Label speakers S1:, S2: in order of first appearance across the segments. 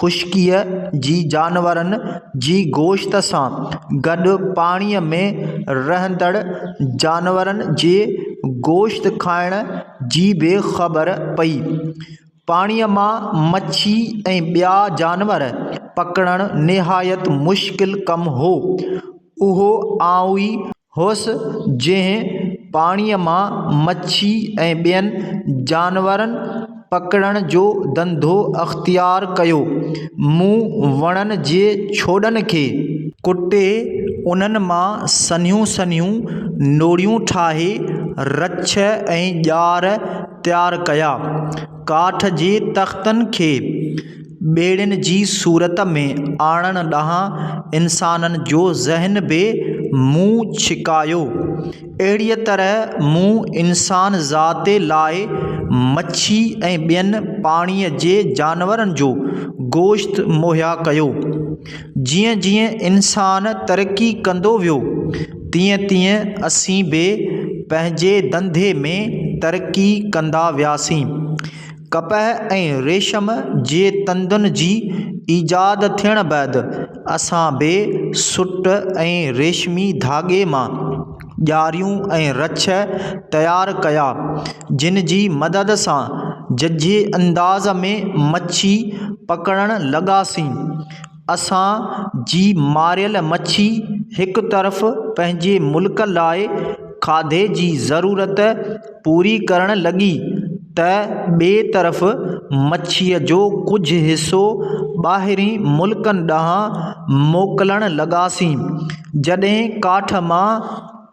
S1: خشڪيء جي جانورن جي گوشت سان گڏ پاڻيء ۾ رهندڙ جانورن جي گوشت کائڻ جي به خبر پئي. پاڻيء مان مڇي ۽ ٻيا جانور پڪڙڻ نهايت مشڪل ڪم هو. اهو آئون ئي هوس، جنهن پاڻيء مان مڇي ۽ ٻين جانورن پڪڙڻ جو ڌنڌو اختيار ڪيو. مون وڻن جي ڇوڏن کي ڪٽي، انهن مان سنهيون سنهيون نوڙيون ٺاهي، رڇ ۽ ڄار تيار ڪيا. ڪاٺ جي تختن کي ٻيڙين جي صورت ۾ آڻڻ ڏانهن انسانن جو ذهن به منهن ڇڪايو اهڙيء طرح منهن انسان ذات لاء مڇي ۽ ٻين پاڻيء جي جانورن جو گوشت مهيا ڪيو جيئن جيئن انسان ترقي ڪندو ويو تيئن تيئن اسين به پنهنجي ڌنڌي ۾ ترقي ڪندا وياسين. ڪپهه ۽ ريشم جي تندن جي ايجاد ٿيڻ بعد اسان به سٽ ۽ ريشمي ڌاڳي مان ڄاريون ۽ رڇ تيار ڪيا، جن جي مدد سان ججهي انداز ۾ مڇي پڪڙڻ لڳاسين. اسان جي ماريل مڇي هڪ طرف پنهنجي ملڪ لاء کاڌي جي ضرورت پوري ڪرڻ لڳي ته ٻي طرف مڇيء جو ڪجهه حصو ٻاهرين ملڪن ڏانهن موڪلڻ لڳاسين جڏهن ڪاٺ مان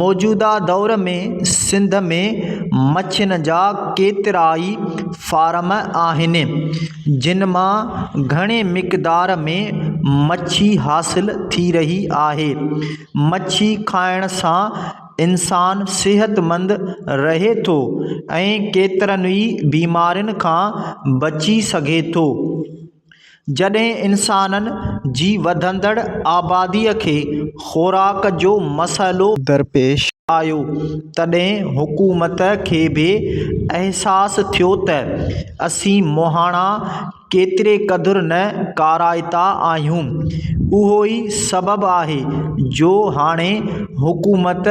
S1: موجوده دور ۾ سنڌ ۾ مڇين جا ڪيترائي فارم آهن جن مان گهڻي مقدار ۾ مڇي حاصل ٿي رهي آهي مڇي کائڻ سان انسان صحتمند رهي ٿو ۽ ڪيترن ئي بيمارين کان بچي سگهي ٿو جڏهن انسانن جي وڌندڙ آبادي کي خوراڪ جو مسئلو درپيش آيو تڏهن حڪومت کي به احساس ٿيو ته اسين مهاڻا ڪيتري قدر نه ڪارائتا آهيون اهو ئي سبب آهي جو هاڻي حڪومت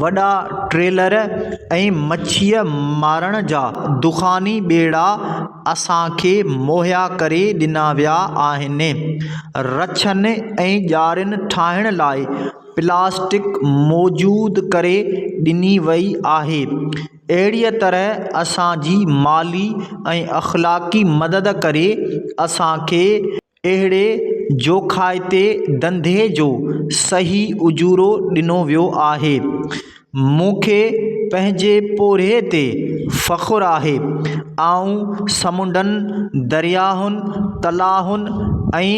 S1: وڏا ٽريلر ۽ مڇيء مارڻ جا دخاني ٻيڙا اسان کي مهيا ڪري ڏنا ويا آهن. رڇن ۽ ڄارين ٺاهڻ لاء پلاسٽڪ موجود ڪري ڏني وئي آهي. اهڙيء طرح اسان جي مالي ۽ اخلاقي مدد ڪري اسان کي. اهڙي جوکائتي ڌنڌي جو صحيح اجورو ڏنو ويو آهي. مون کي پنهنجي پورهيي تي فخر آهي. آئون سمنڊن، درياهن، تلاون ۽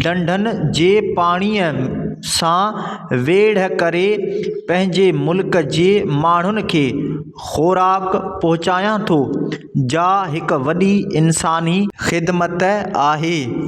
S1: ڍنڍن جي پاڻيء سان ويڙهه ڪري پنهنجي ملڪ جي ماڻهن کي خوراڪ پهچايان ٿو، جا هڪ وڏي انساني خدمت آهي.